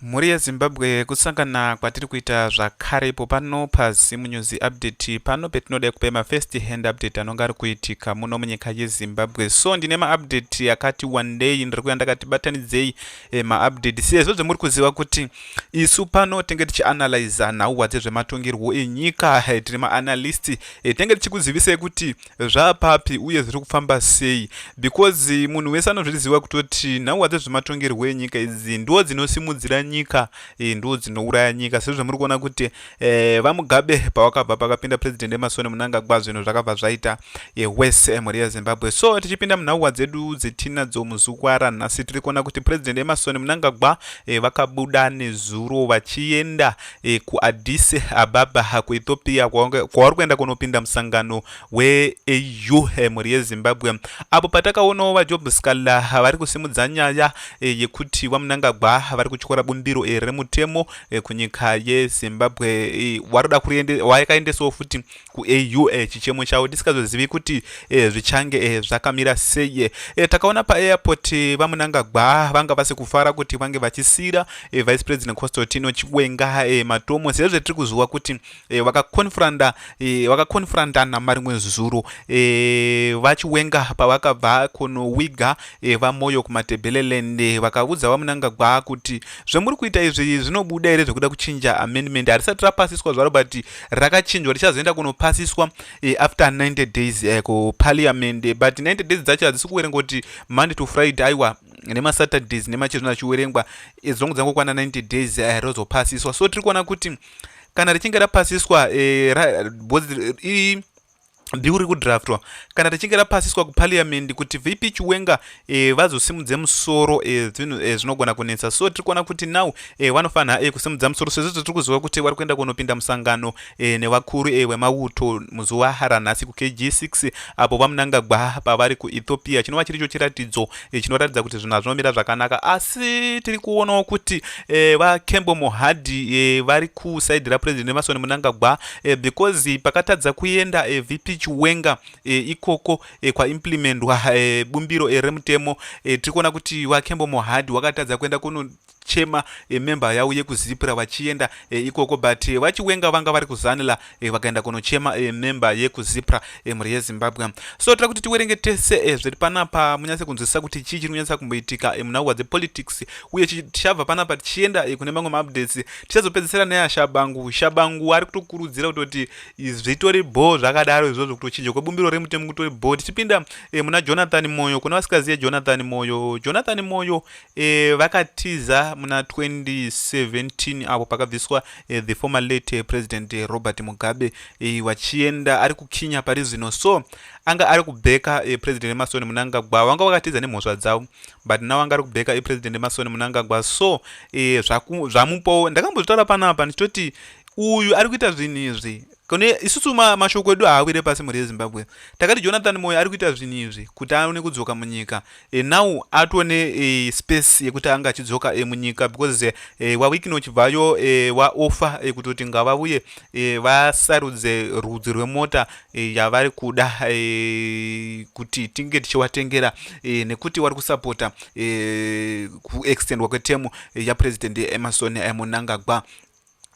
Mhuri yeZimbabwe kusangana kwatiri kuita zvakare ipo pano paZim News Update pano petinoda kupa ma first hand update anonga ari kuitika muno munyika yeZimbabwe. So ndine ma update akati wandei ndiri kuya ndakati batanidzei eh, ma update sezvo zvamuri kuziva kuti isu pano tenge tichi analyze nhau dzezvematongerwo enyika eh, tiri ma analyst eh, tenge tichikuzivisei kuti zvaapapi uye zviri kufamba sei because munhu wese anozviziva kutoti nhau hadzi zvematongerwo enyika idzi ndo dzinosimudzira nyika e, ndo dzinouraya nyika sezvo muri kuona kuti e, vamugabe pavakabva pakapinda president emasoni munangagwa zvinhu zvakabva zvaita e, wese e, mhuri yezimbabwe so tichipinda munhauwa dzedu dzetinadzo muzukwara nhasi tiri kuona kuti president emasoni munangagwa e, vakabuda nezuro vachienda e, kuaddis ababa kuethiopia kwauri kuenda kunopinda musangano weau e, mhuri yezimbabwe apo patakaonawo vajob scala vari kusimudza nyaya e, yekuti vamunangagwa vari kutyora bumbiro e, remutemo e, kunyika yezimbabwe e, waroda waikaendesawo futi kuau eh, chichemo chavo tisikazozivi kuti eh, zvichange eh, zvakamira sei eh, eh takaona paairport eh, vamunangagwa vanga vasi kufara kuti vange vachisira eh, vice president constantino chiwenga eh, matomo sezve tiri kuziva kuti eh, vakakonfranda eh, vakakonfrandana marimwe zuro eh, vachiwenga pavakabva kunowiga eh, vamoyo kumatebeleland eh, vakaudza vamunangagwa kuti zvamuri kuita izvi zvinobuda here zvekuda kuchinja amendment harisati rapasiswa zvaro but rakachinjwa richazoenda kunopasiswa eh, after 90 days eh, kuparliament eh, but 90 days dzacho hadzisi kuverenga kuti monday to friday aiwa nemasaturdays nemachezvino achiverengwa eh, dzongo dzangokwana 90 days eh, rozopasiswa so tiri kuona kuti kana richinge rapasiswa eh, ra, bozi, i, bill riri kudraftwa kana richinge rapasiswa kupariamendi kuti vp chiwenga e, vazosimudze musoro e, zvinhu e, zvinogona e, kunetsa so tiri kuona kuti now e, vanofanira e, kusimudza musoro sezvo tiri kuziva kuti vari kuenda kunopinda musangano e, nevakuru e, wemauto muzuva ranhasi kukg6 apo vamunangagwa pavari kuethiopia chinova chiricho chiratidzo e, chinoratidza kuti zvinhu hazvinomira zvakanaka asi tiri kuonawo kuti e, vakembo mohadi e, vari kusaidi rapresident emasoni munangagwa e, because pakatadza kuenda e, vp chiwenga e, ikoko e, kwaimplementwa e, bumbiro e, remutemo e, tiri kuona kuti vakembo mohadi wakatadza kuenda kuno chema e, member yavo yekuzipra vachienda e, ikoko but e, vachiwenga vanga vari kuzanila e, vakaenda kunochema e, member yekuzipra e, mhuri yezimbabwe so tira kuti tiwerenge tese e, zviri panapa munyatse kunzwisisa kuti chii chiri kunyatsa kumboitika e, munhau hwadzepolitics uye tichabva panapa tichienda e, kune mamwe maupdates tichazopedzisira neya shabangu shabangu ari kutokurudzira kutoti zvitori bho zvakadaro izvozvo kutochinja kwebumbiro remutemo kutori bho tichipinda e, muna jonathan moyo kuna vasikaziye jonathan moyo jonathan moyo E, vakatiza muna 2017 apo pakabviswa e, the former late president robert mugabe e, vachienda ari kukinya pari zvino so anga ari kubheka e, president emasoni munangagwa vanga vakatiza nemhosva dzavo but now anga ari kubheka e, president emasoni munangagwa so e, zvamupowo ndakambozvitaura panapa ndichitoti uyu ari kuita zvinhu izvi Kune isusu ma, mashoko edu haawire pasi mhuri yezimbabwe takati jonathan moyo ari kuita zvinhu izvi kuti aone kudzoka munyika e, now atone e, space yekuti ange achidzoka e, munyika because e, wawikino uchibvayo e, waofa e, kutoti ngavavuye e, vasarudze rudzi rwemota e, yavari kuda e, kuti tinge tichiwatengera e, nekuti wari kusapota e, kuextendwa kwetemu e, yapresident emerson e, munangagwa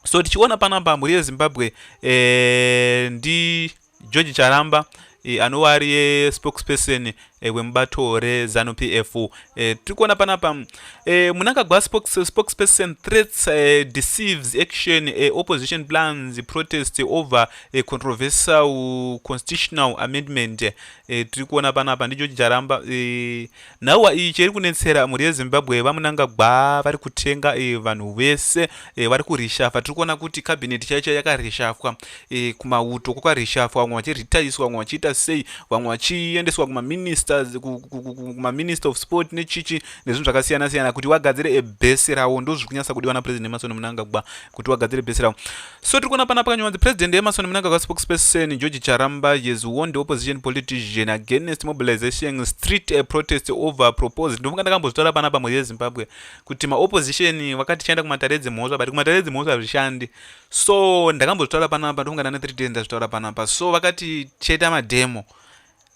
so tichiona panapa mhuri yezimbabwe eh, ndi george charamba eh, anova ari yespokesperson eh, wemubato rezanu p f eh, tiri kuona panapa eh, munangagwa spokesperson eh, threats eh, deceives action eh, opposition plans protest over eh, controversial constitutional amendment eh, tiri kuona panapa ndi george charamba eh, Nhauwa iyi cheri kunetsera mhuri yeZimbabwe vaMunangagwa vari kutenga e, vanhu vese e, vari kurishafwa. Tiri kuona kuti kabineti chaicho yakarishafwa e, kumauto kwakarishafwa, vamwe vachiritaiswa, vamwe vachiita sei, vamwe vachiendeswa kumaministers kumaminister of sport nechichi nezvinhu zvakasiyana siyana kuti wagadzire ebhesi rawo. Ndozviri kunyasa kudiwa naPresident Emerson Munangagwa kuti wagadzire bhesi rawo. So tiri kuona panapa kanywanzi President Emerson Mnangagwa spokesperson George Charamba has warned the opposition politician against mobilization street a protest over proposed ndofunga ndakambozvitaura panapa mhuri yeZimbabwe kuti maopposition vakati chaenda kumatare edzimhosva but kumatare edzimhosva hazvishandi so ndakambozvitaura panapa ndofunga ndane 3 days ndazvitaura panapa so vakati cheta mademo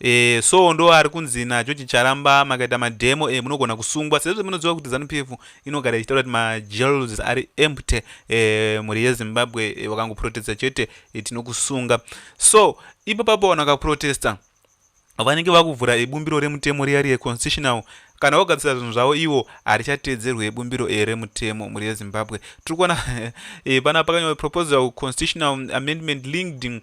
Eh, so ndo ari kunzi naGeorge Charamba makaita mademo eh, munogona kusungwa sezvo munoziva kuti Zanu PF inogara ichitaura kuti majails ari empty eh, mhuri yeZimbabwe eh, wakangoprotesta chete eh, tinokusunga so ipo papo vanhu vakaprotesta vanenge vakuvhura ibumbiro remutemo riya riye constitutional kana vagadzisa zvinhu zvavo ivo harichatedzerwe ibumbiro e remutemo mhuri yezimbabwe tiri kuona eh, pana pakanyorwa proposal constitutional amendment linked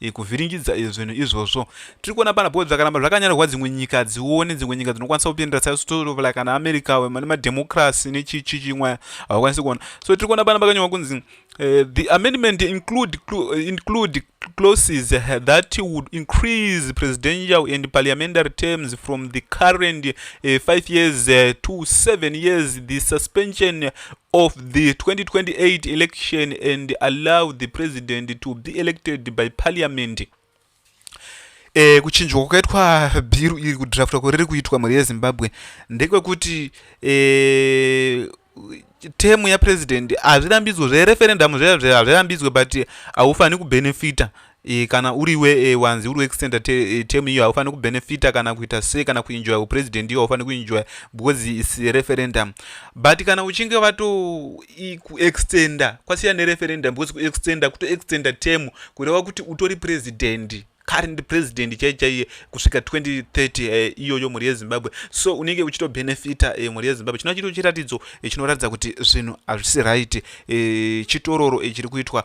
e, kuvhiringidza e, zvinhu izvozvo tiri kuona pana bho zvakaramba zvakanyanirwa dzimwe nyika dzione dzimwe nyika dzinokwanisa kupindira saisotolova kana america vane madhemokrasi nechichi chimwe havakwanisi kuona so tiri kuona pana pakanyorwa kunzi e, the amendment include, include clauses that would increase presidential and parliamentary terms from the current uh, five years uh, to seven years the suspension of the 2028 election and allow the president to be elected by parliament eh, kuchinjwa kwakaitwa bhiru iri kudraftwa kuri riri kuitwa mhuri yezimbabwe ndekwekuti eh, temu yapresident hazvirambidzwe zvereferendamu zveazvirambidzwe but haufaniri kubenefita E, kana uri we e, wanzi uri weextenda te, e, term iyo haufaniri kubenefita kana kuita se kana kuenjoya upresident iyo haufaniri kuenjoya because is referendum but kana uchinge vato kuextenda kwasiya nereferendum because kuextenda kutoextenda term kureva kuti utori president current president chai chaiye kusvika 2030 eh, iyoyo mhuri yezimbabwe so unenge uchitobenefita eh, mhuri yezimbabwe chinoa chito chiratidzo eh, chinoratidza kuti zvinhu hazvisi right chitororo chiri kuitwa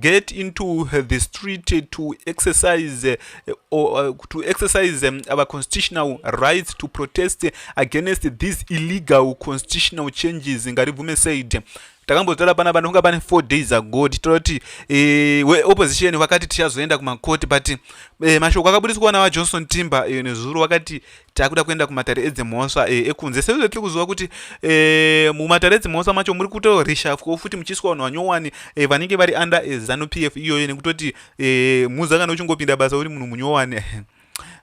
get into the street to exercise eh, or eh, to exercise eh, our constitutional rights to protest against these illegal constitutional changes ngaribvume said takambotaura pana vanhu kunga pane four days ago tichitaura kuti eh, weopposition vakati tichazoenda kumakoti but eh, mashoko akabudiswa na vajohnson timber eh, nezuro vakati takuda kuenda kumatare edzimhosva e, ekunze sezvo tiri kuziva kuti e, mumatare edzimhosva macho muri kuto reshafwo futi muchiiswa vanhu vanyowani e, vanenge vari under e, zanu p f iyoyo nekutoti e, muza kana uchingopinda basa uri munhu munyowani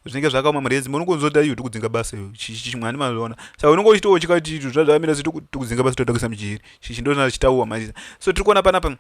zvinenge zvakaoma mari yedzimba unongonzota iyo tikudzinga basa iyo chimwani mazviona saka unonge uchitowo chikati zvazvamira se tikudzinga basa totakisa mujeri chichi ndozvina chitauwa maiza so tiri kuona panapa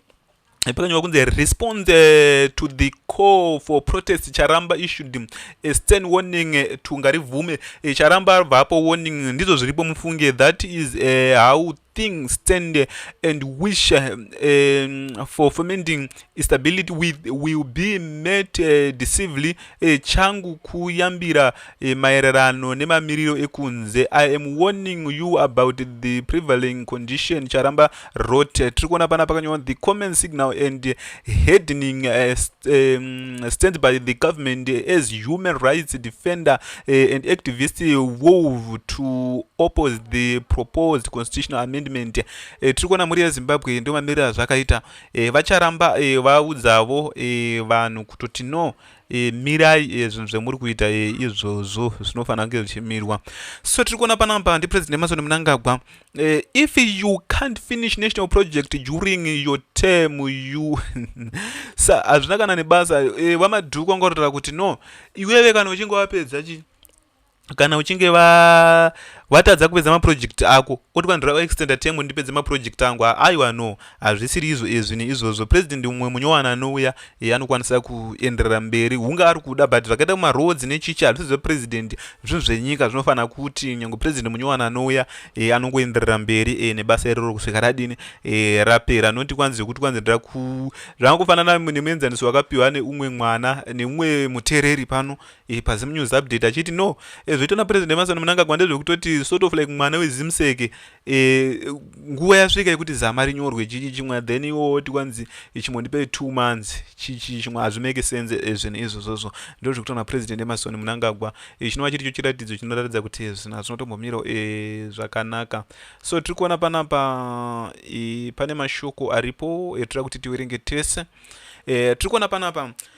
pakanyorwa kunzi respond eh, to the call for protest charamba issued mm, a stern warning eh, to ngarivhume eh, charamba abvapo warning mm, ndizvo zviripo mufunge that is uh, how thing stand and wish uh, um, for fomenting stability with, will be met uh, deceively E, changu kuyambira e, maererano nemamiriro ekunze i am warning you about the prevailing condition charamba rote tiri kuona pana pakanyorwa the common signal and headning uh, st um, stand by the government as human rights defender uh, and activist wove to oppose the proposed constitutional amendment uh, tiri kuona mhuri yezimbabwe ndio mamiriro azvakaita e, vacharamba e, vaudzavo e, vanhu kutoti no e, mirai e, zvinhu zvemuri kuita e, izvozvo zvinofanira kunge zvichimirwa so tiri kuona panapa ndipresident emasoni munangagwa e, if you can't finish national project during your term you sa hazvina kana nebasa e, vamadhuku vanga vatotaura kuti no iweve kana uchinge wapedza chii kana uchinge va watadza kupedza maproject ako oti vanhu rava extenda temu ndipedze maproject angu aiwa no hazvisiri izvo izvi neizvozvo president mumwe munyowana anouya ye anokwanisa kuenderera mberi hunge ari kuda but zvakaita kumaroads nechichi hazvisi zvepresident zvinhu zvenyika zvinofanira kuti nyange president munyowana anouya e, anongoenderera mberi e, nebasa iroro kusvika radini e, rapera noti kwanzi zvekuti kwanzi ndira ku zvangofanana nemuenzaniso wakapiwa neumwe mwana neumwe mutereri pano e, pazim news update achiti no e, zvoitwa napresident emasoni munangagwa ndezvekutoti sort of like mwana wezimseke e, nguva yasvika yekuti zama rinyorwe chichi chimwe then iwo oti kwanzi chimwe ndipe two months chichi chimwe hazvimeke sense e, zvinhu izvozvozvo ndo zvekutwa napresident emasoni munangagwa e, chinova chiri cho chiratidzo chinoratidza kuti zvinhu hazvinotombomiro e, zvakanaka so tiri kuona panapa e, pane mashoko aripo etira kuti tiwerenge tese e, tiri kuona panapa e,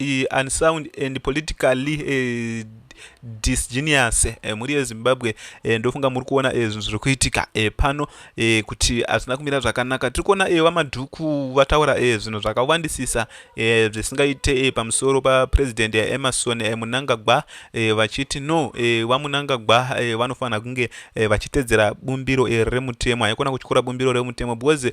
uh, unsound and politically uh, disgenius uh, eh, mhuri yezimbabwe uh, ndofunga muri kuona zvinhu uh, zviri kuitika uh, pano uh, kuti hazvina kumira zvakanaka tiri kuona uh, vamadhuku vataura uh, zvinhu zvakawandisisa uh, zvisingaite uh, pamusoro papresident yaemerson uh, munangagwa uh, vachiti no uh, vamunangagwa uh, vanofanira kunge uh, vachitedzera bumbiro uh, remutemo haikona kutyora bumbiro remutemo because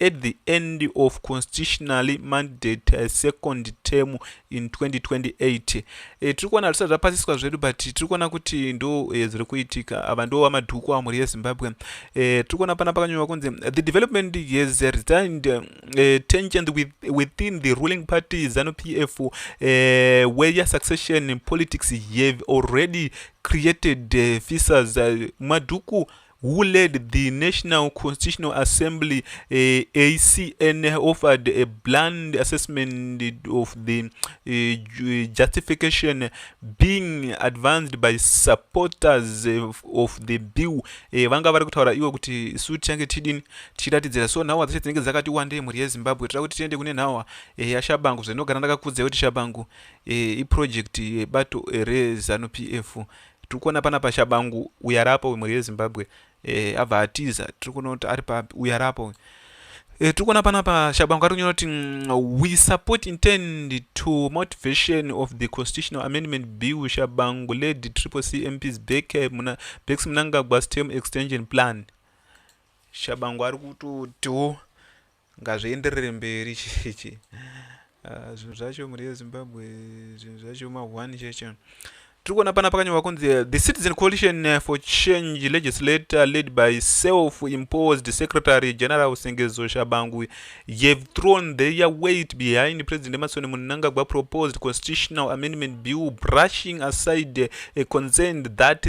at the end of constitutionally mandate eh, second term in 2028 e, eh, tiri kuona zvisati zvapasiswa zvedu but tiri kuona kuti ndo e, zviri kuitika ava ndo vamadhuku amhuri yezimbabwe e, tiri kuona pana pakanyorwa kunzi the development has resigned e, tension with, within the ruling party zanu p f e, where your succession politics have already created uh, visas uh, madhuku who led the National Constitutional Assembly uh, eh, ACN offered a bland assessment of the uh, justification being advanced by supporters of, of the bill uh, eh, vanga vari kutaura ivo kuti isu tichange tichidini tichiratidzira so nhawa dzacho dzinenge dzakati wandei mhuri yezimbabwe tira kuti tiende kune nhawa uh, yashabangu zvinogara ndakakudzai kuti shabangu uh, iproject yebato uh, rezanup f uh, Tiri kuona panapa Shabangu uyo ari apa uyu mhuri yeZimbabwe eh, abva atiza. Tiri kuona kuti ari papi uyo ari apa uyu. Eh, tiri kuona panapa Shabangu ari kunyora kuti mm, we support intend to motivation of the constitutional amendment bill Shabangu led triple C MPs back eh, muna Bex Mnangagwa's term extension plan. Shabangu ari kutotiwo Ngazvienderere mberi chechi. Ah, zvinhu zvacho mhuri yezimbabwe zvinhu zvacho mahwani cheche tiri kuona pana pakanyorwa kunzi eh, the citizen coalition eh, for change legislator led by self imposed secretary general sengezo shabangu have thrown their weight behind president emasoni munangagwa proposed constitutional amendment bill brushing aside a eh, concern that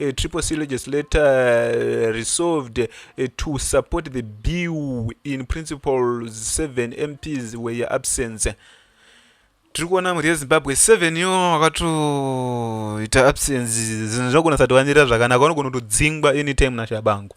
uh, triple C legislator uh, resolved uh, to support the bill in principle 7 MPs were your absence. tiri kuona mhuri yezimbabwe seven yo akatoita absence zinhu zvakunasatovanira zvakanaka vanogona kutodzingwa anytime nashabangu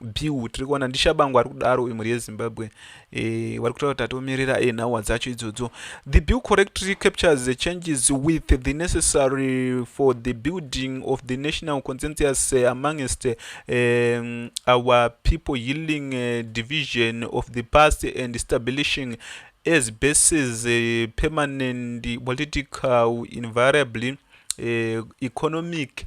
bill tiri kuona ndishabangu ari kudaro uyu mhuri yezimbabwe e, vari kutaura kuti atiomerera e, eh, nhawa dzacho idzodzo the bill correctly captures the changes with the necessary for the building of the national consensus eh, amongst um, our people healing uh, division of the past and establishing as bases uh, permanent political invariably uh, economic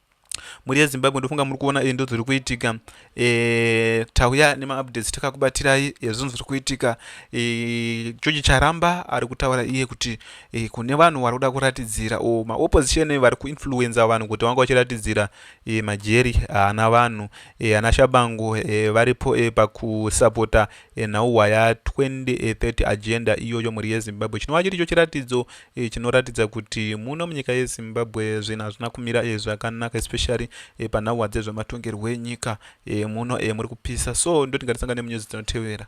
mhuri yezimbabwe ndofunga muri kuona endo dziri kuitika e, tauya nemaupdates takakubatirai ezvinhu zviri kuitika e, george charamba ari kutaura iye kuti e, kune vanhu vari kuda kuratidzira o maopposition vari kuinfluenza vanhu kuti vanga vachiratidzira e, majeri haana vanhu e, ana shabango e, varipo e, pakusapota e, nhauhwa ya 2030 agenda iyoyo mhuri yezimbabwe chinova chiri cho chiratidzo e, chinoratidza kuti muno munyika yezimbabwe zvinhu hazvina kumira e, zvakanaka especially e, panhauwa dzezvematongerwo enyika e, muno e, muri kupisa so ndotingatisangane munyuzi dzinotevera